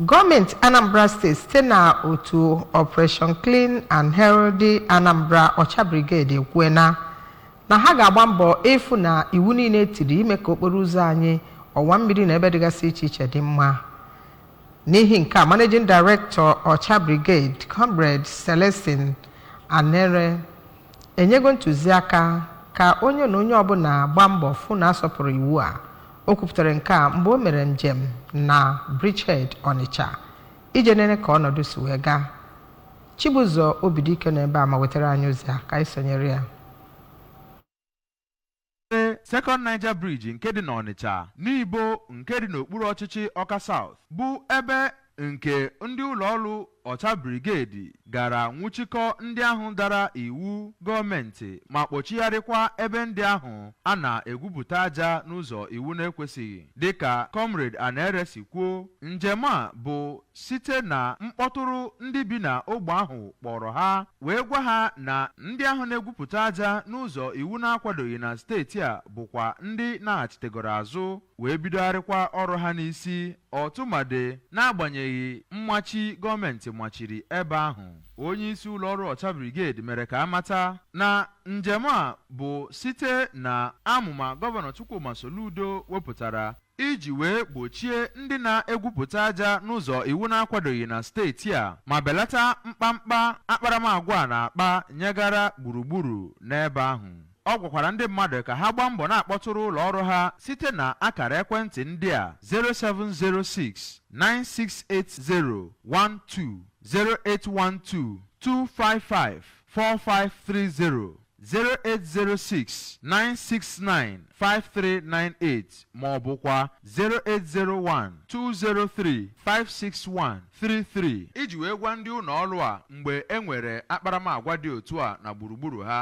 Gọọmenti Anambra steeti site na otu Operation Clean and Healthy Anambra Ọcha Brigade ekwuena na ha ga-agba mbọ ịfụ na iwu niile tiri ime ka okporo ụzọ anyị ọwa mmiri na ebe dịgasị iche iche dị mma n'ihi nke a managing director Ọcha Brigade Comrade Celestine Anere enyego ntụziaka ka onye na onye ọbụla gbaa mbọ fụ na a sọpụrụ iwu a o kwupụtara nke a mgbe o mere njem na Bridgehead Ọnịcha ije nene ka ọnọdụ si wee gaa Chibụzọ Obidike nọ ebe a ma wetara anyị ozi a ka anyị sonyere ya Second Niger Bridge nke dị n'Ọnịcha Nibo nke dị n'okpuru ọchịchị Ọka South bụ ebe nke ndị ụlọọrụ Ọcha Brigade gara nwụchikọ ndị ahụ dara iwu gọọmenti ma kpọchigharịkwa ebe ndị ahụ a na-egwupụta aja n'ụzọ iwu na-ekwesịghị dịka Comrade Anere si kwuo njem a bụ site na mkpọtụrụ ndị bi na ogbe ahụ kpọrọ ha wee gwa ha na ndị ahụ na-egwupụta aja n'ụzọ iwu na-akwadoghị na steeti a bụkwa ndị naghachitegoro azụ wee bidogharịkwa ọrụ ha n'isi ọtụmadị n'agbanyeghị mmachi gọọmenti machiri ebe ahụ onye isi ụlọ ọrụ Ọcha Brigade mere ka a mata na njem a bụ site na amụma gọvanọ Chukwuma Soludo wepụtara iji wee gbochie ndị na-egwupụta aja n'ụzọ iwu na-akwadoghị na steeti a ma belata mkpamkpa akparamagwa a na-akpa nyegara gburugburu n'ebe ahụ. Ọ gwakwara ndị mmadụ ka ha gbaa mbọ na-akpọtụrụ ụlọ ọrụ ha site na akara ekwentị ndị a 0706 968012, 0812 255 4530 08069695398 ma ọ bụkwa 080120356133 iji wee gwa ndị ụnọ ọlụ a mgbe e nwere akparamagwa dị otu a na gburugburu ha